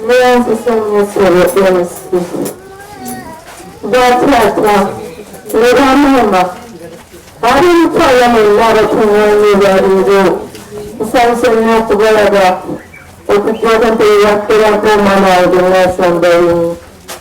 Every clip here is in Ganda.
Mweyazise nnyo ssebo MC. Bataata ne bamaama ab'emitwala mwenna abakuŋŋaanye leero nsanyuse nnyo okubalaba okujja okumpeerera kubeerako omwana wange Nelson Baini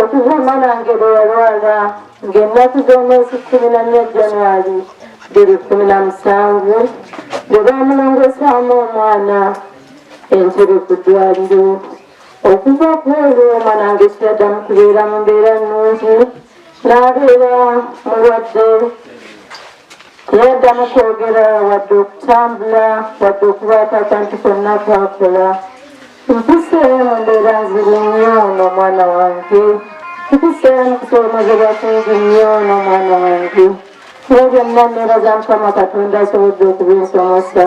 okuva omanange bwe yalwala ng'ennaku z'omwezi kkumi na nnya januari biri kkumi na musanvu bwe baamulongosaamu omwana entebe ku ddwaliro okuva ku olwo omanange kyaddamu kubeera mu mbeera nnungi n'abeera mulwadde yaddamu kwogera wadde okutambula wadde okubaako akantu konna kwakola Nkuseemu mbeera nzibu nnyo n'omwana wange. Nkuseemu kusoomozebwa kungi nnyo n'omwana wange. Naye byonna nneebaza Mukama Katonda asobodde okubinsomesa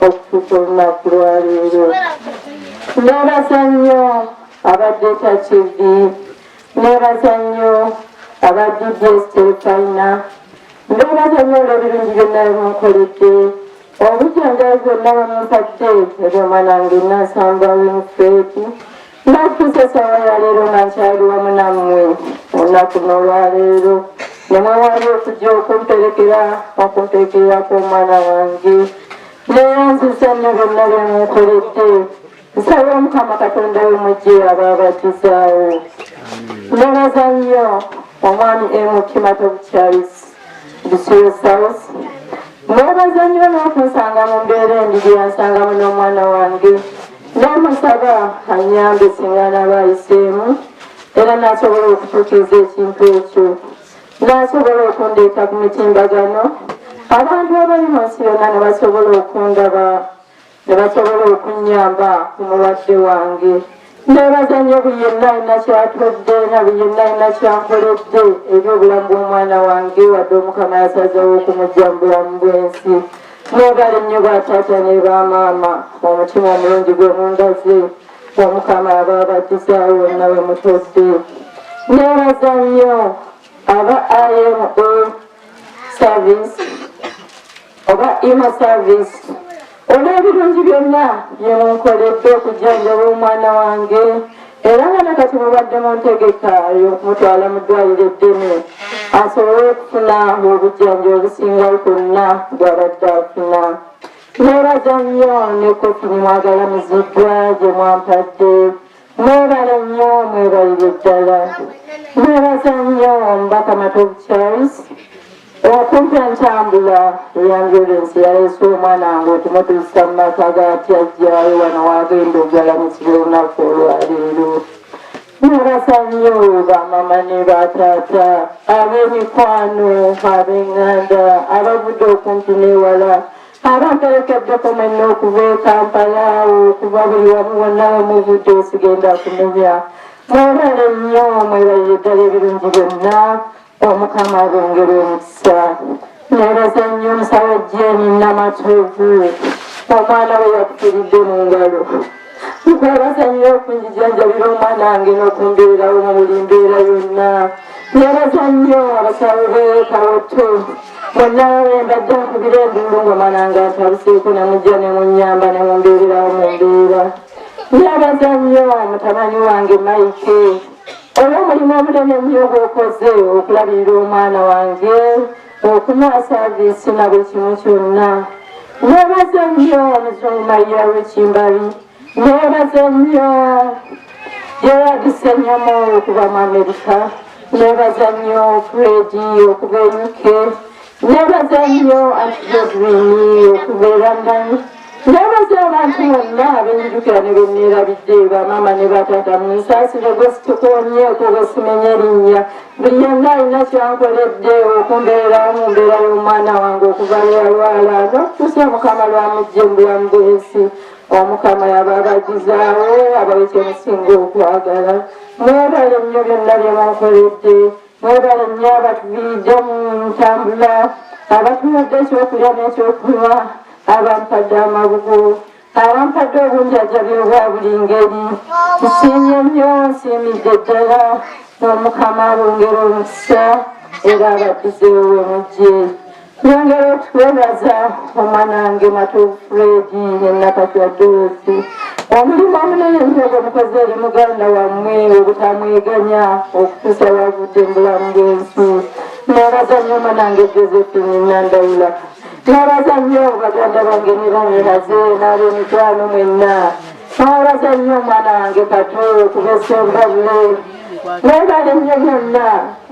okutuuka olunaku lwaleero. Nneebaza nnyo abadde takidi. Nneebaza nnyo aba DBS Terefayina. Nneebaza nnyo olw'ebirungi byonna bimunkoledde. obujanjabi bwonna bwemumpadde ebyomwanange nasamba winfredi nakutuusa esawa yaleero nga nkyali wamu nammwe olunaku nolwaleero nemwewali okujja okumperekera okumperekererako omwana wange neyanziza nyo byonna byemunkoledde nsaba omukama katonda we mujje abaabatizaawo nebaza nnyo omwami emutima tobucharis bisuusaus nebaza nnyo n'okunsanga mu mbeera endi gyeyansangamu n'omwana wange nemusaba anyambe singa naba ayiseemu era nasobola okutuukiriza ekintu ekyo nasobola okundeeta ku mitimbagano abantu abali mu nsi yonna ne basobola okundaba ne basobola okunnyamba ku mulwadde wange nebaza nnyo buli yenna alina kyatudde na buli yenna alina kyankoledde eri obulamu bw'omwana wange wadde omukama yasazewo okumujja mu bulamu bw'ensi nebale nnyo bataata ne bamaama omutima omulungi gwe mundaze omukama aba abadizaawo wonna we mutudde nebaza nnyo aba ima service oba ima service olw'ebirungi byonna byemunkoledde okujjanjaba omwana wange era nga nakati mubadde mu ntegeka yokumutwala mu ddwaliro eddene asobole okufuna obujjanjo obusinga bwonna bwabadde afuna nebaza nnyo nekofini mwagala muziddwa gye mwampadde Mwebale nnyo mwebalire ddala. Mwebaza nnyo omubaka Matovu Charles okumpa entambula eyanjolensi yaleese omwana wange okumutuusa mu maka gatyajjayo wano wagenda ogalamusibwa olunaku olwaleero. Mwebaza nnyo bamama ne bataata ab'emikwano ab'enganda abavudde okumpi n'ewala abaterekedde kumenya okuva e kampala awo okuva buli wamu wonna wemuvudde osigenda kumenya mwebale nnyo mwebalire ddala ebirungi byonna omukama abongere omukisa nebaza nnyo omusawo jeni namatovu omwana we yakufiridde mu ngalo tukwebaza nnyo okunjijanjabira omwana wange n'okumbeerawo mu buli mbeera yonna nebaza nnyo abasawo beekawotto banawe mbadde nkubira enduulu nga omwana nga atabuseeko nemujja nemunyamba nemumbeererawo mu mbeera nebaza nnyo mutabani wange maike olw'omulimu omunene nnyo gwokoze okulabirira omwana wange okuwa saaviisi na buli kimu kyonna nebaze nnyo omuzungu mayiya w'ekimbabi nebaze nnyo yeyadise nnyo mwoyo okuva mu amerika nebaza nnyo fredi okuva e uk nebaza nnyo antijozirini okuva e london Nabadde abantu bonna abenjukira ne benneerabidde bamaama ne batata munsaasire gwe situkoonyeeko bwe simenya erinnya buli yenna alina kyankoledde okumbeerawo mu mbeera y'omwana wange okuva lweyalwala n'okutuusa mukama lwamujje mu bulamu bw'ensi omukama yaba abagizaawo abawe kyemusinga okwagala mwebale nnyo byonna bye munkoledde Mwebale nnyo abatuviidde mu ntambula abatuwadde ekyokulya n'ekyokunywa abampadde amabugo abampadde obunjajabi obwa buli ngeri nsiimye nnyo nsiimidde ddala n'omukama abongera omukisa era abaddizeewo we mujje Twongera okutwebaza omwanange Matu Fredi ne Nakatya Doosi omulimu omunene nnyo gwe mukozi eri muganda wammwe obutamweganya okutuusa wavudde mu bulamu bw'ensi nebaza nnyo omwanange Josephine Nandawula nebaza nnyo baganda bange ne bamiraze n'ab'emikwano mwenna Mwebale nnyo omwana wange katu okubesa obulamu mwebale nnyo byonna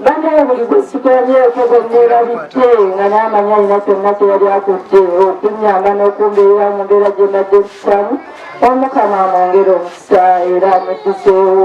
banaye buli gwe sikolabyeeko gwe neerabidde nga n'amanya alina kyonna kye yali akudde okunnyamba n'okumbeera mu mbeera gye mbadde sisamu omukama amwongere omukisa era amuddiseewo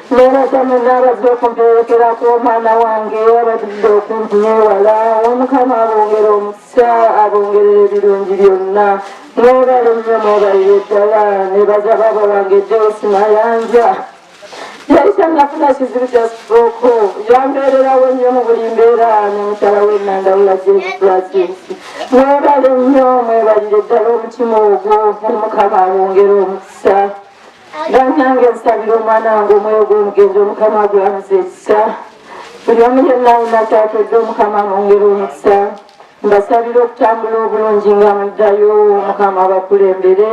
Nebazamu nabadde okumperekera ku omwana wange abadidde okumpi newala omukama abongere omukisa abongerera ebirungi byonna mwebale nnyo mwebalire ddala nebaza baaba wange joyce mayanja yali tanafuna kizibu kya strooko yambeererawo nnyo mu buli mbeera ne mukyala we nandawula jefrasis mwebale nnyo mwebalire ddala omutima ogwo omukama abongere omukisa banange nsabira omwana wange omwoyo gw'omugenzi omukama agwamuza ekisa buli omu yenna alina kyatodde omukama amwongera omukisa mbasabira okutambula obulungi nga muddayo omukama abakulembere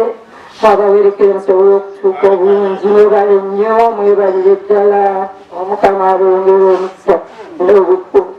abawerekere musobole okutuuka obulungi mwebale nnyo mwebalire ddala omukama abongere omukisa n'obukulu